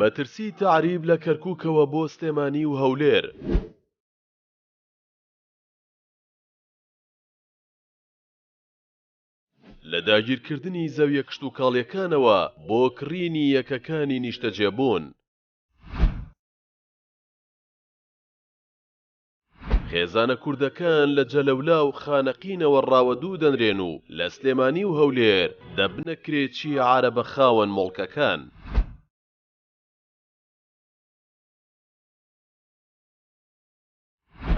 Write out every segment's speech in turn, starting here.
مەترسی تەعریب لە کەرکوکەوە بۆ سلێمانی و هەولێر. لە داگیرکردنی زەویە کشتوکاڵیەکانەوە بۆ کڕینی یەکەکانی نیشتەجێبوون. خێزانە کوردەکان لە جەلەولا و خانەقینەوە ڕاوەدوو دەنرێن و لە سلێمانی و هەولێر دەبنە کرێچی عارەبە خاوەن موڵکەکان.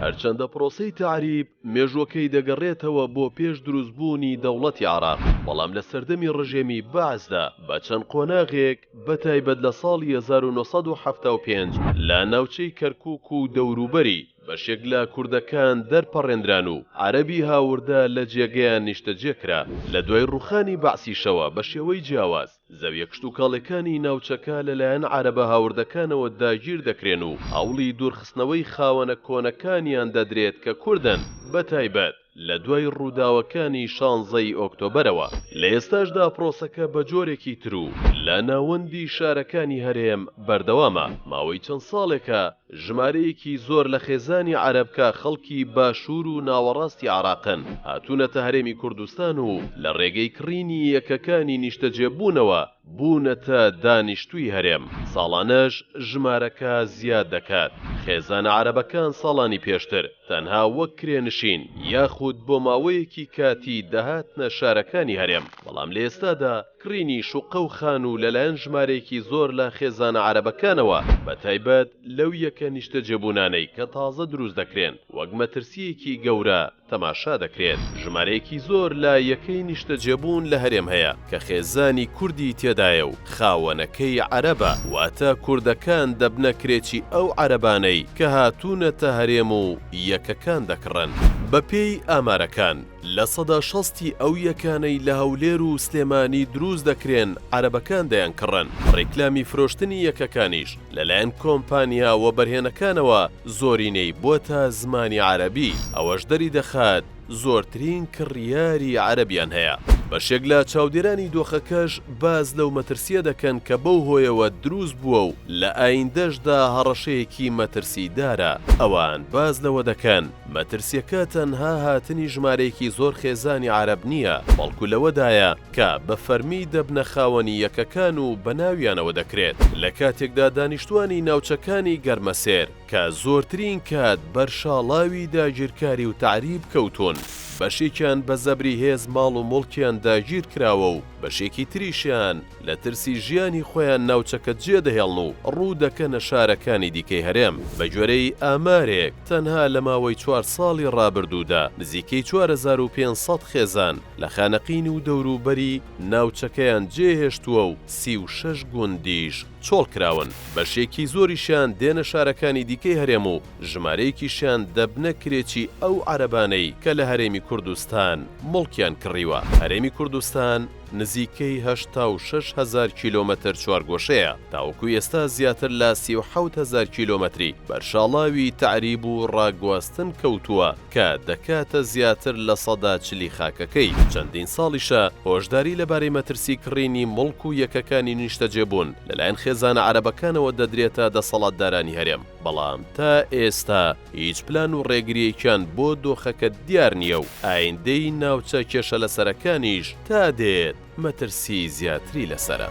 هەرچەندە پرۆسەی تەعریب مێژووەکەی دەگەڕێتەوە بۆ پێش دروستبوونی دەوڵەتی عێراق، بەڵام لە سەردەمی ڕژێمی بەعسدا بە چەند قۆناغێک، بەتایبەت لە ساڵی هەزار و نۆ سەد و حەفتا و پێنج لە ناوچەی کەرکوک و دەوروبەری بەشێک لە کوردەکان دەرپەڕێندران و عەرەبی هاوردە لە جێگەیان نیشتەجێ کرا، لە دوای ڕوخانی بەعسیشەوە بە شێوەی جیاواز زەویە کشتوکاڵێکانی ناوچەکە لەلایەن عەرەبە هاوردەکانەوە داگیر دەکرێن و هەوڵی دورخستنەوەی خاوەنە کۆنەکانیان دەدرێت کە کوردن بەتایبەت لە دوای ڕووداوەکانی شانزە ی ئۆکتۆبەرەوە، لە ئێستاشدا پرۆسەکە بە جۆرێکی تر و لە ناوەندی شارەکانی هەرێم بەردەوامە، ماوەی چەند ساڵێکە ژمارەیەکی زۆر لە خێزانی عەرەب کە خەڵکی باشوور و ناوەڕاستی عێراقن، هاتوونەتە هەرێمی کوردستان و لە ڕێگەی کڕینی یەکەکانی نیشتەجێبوونەوە، بوونەتە دانیشتووی هەرێم، ساڵانەش ژمارەکە زیاد دەکات، خێزانە عەرەبەکان ساڵانی پێشتر تەنها وەک کرێنشین یاخود بۆ ماوەیەکی کاتی دەهاتنە شارەکانی هەرێم، بەڵام لە ئێستادا کڕینی شوقە و خانوو لەلایەن ژمارەیەکی زۆر لە خێزانە عەرەبەکانەوە بەتایبەت لەو یەکە نیشتەجێبوونانەی کە تازە دروست دەکرێن وەک مەترسییەکی گەورە تەماشا دەکرێت، ژمارەیەکی زۆر لە یەکەی نیشتەجێبوون لە هەرێم هەیە کە خێزانی کوردی تێدایە و خاوەنەکەی عەرەبە، واتە کوردەکان دەبنە کرێچی ئەو عەرەبانەی کە هاتوونەتە هەرێم و یەکەکان دەکڕن. بەپێی ئامارەکان، لە سەدا شەستی ئەو یەکانەی لە هەولێر و سلێمانی دروست دەکرێن عەرەبەکان دەیانکڕن، ڕیکلامی فرۆشتنی یەکەکانیش لەلایەن کۆمپانیا وەبەرهێنەکانەوە زۆرینەی بۆتە زمانی عەرەبی، ئەوەش دەریدەخات زۆرترین کڕیاری عەرەبیان هەیە. بەشێک لە چاودێرانی دۆخەکەش باس لەو مەترسییە دەکەن کە بەو هۆیەوە دروست بووە و لە ئایندەشدا هەڕەشەیەکی مەترسیدارە، ئەوان باس لەوە دەکەن مەترسییەکە تەنها هاتنی ژمارەیەکی زۆر خێزانی عەرەب نییە، بەڵکو لەوەدایە، کە بە فەرمی دەبنە خاوەنی یەکەکان و بە ناویانەوە دەکرێت، لە کاتێکدا دانیشتووانی ناوچەکانی گەرمەسێر کە زۆرترین کات بەر شاڵاوی داگیرکاری و تەعریب کەوتوون، بەشێکیان بە زەبری هێز ماڵ و موڵکیان داگیر کراوە و بەشێکی تریشیان لە ترسی ژیانی خۆیان ناوچەکە جێدەهێڵن و ڕوو دەکەنە شارەکانی دیکەی هەرێم. بە گوێرەی ئامارێک، تەنها لە ماوەی چوار ساڵی ڕابردوودا نزیکەی چوار هەزار و پێنج سەد خێزان، لە خانەقین و دەوروبەری ناوچەکەیان جێهێشتووە و سی و شەش گوندیش چۆڵکراون، بەشێکی زۆریشیان دێنە شارەکانی دیکەی هەرێم و ژمارەیەکیشیان دەبنە کرێچی ئەو عەرەبانەی کە لە هەرێمی کوردستان موڵکیان کڕیوە. هەرێمی کوردستان نزیکەی هەشتا و شەش هەزار کیلۆمەتر چوارگۆشەیە، تاوەکو ئێستا زیاتر لە سی و حەوت هەزار کیلۆمەتری بەرشاڵاوی تەعریب و ڕاگواستن کەوتووە، کە دەکاتە زیاتر لە سەدا چلی خاکەکەی، چەندین ساڵیشە هۆشداری لەبارەی مەترسی کڕینی موڵک و یەکەکانی نیشتەجێبوون لەلایەن خێزانە عەرەبەکانەوە دەدرێتە دەسەڵاتدارانی هەرێم، بەڵام تا ئێستا هیچ پلان و ڕێگرییەکیان بۆ دۆخەکە دیار نییە و ئایندەی ناوچە کێشەلەسەرەکانیش تا دێت مەترسی زیاتری لەسەرە.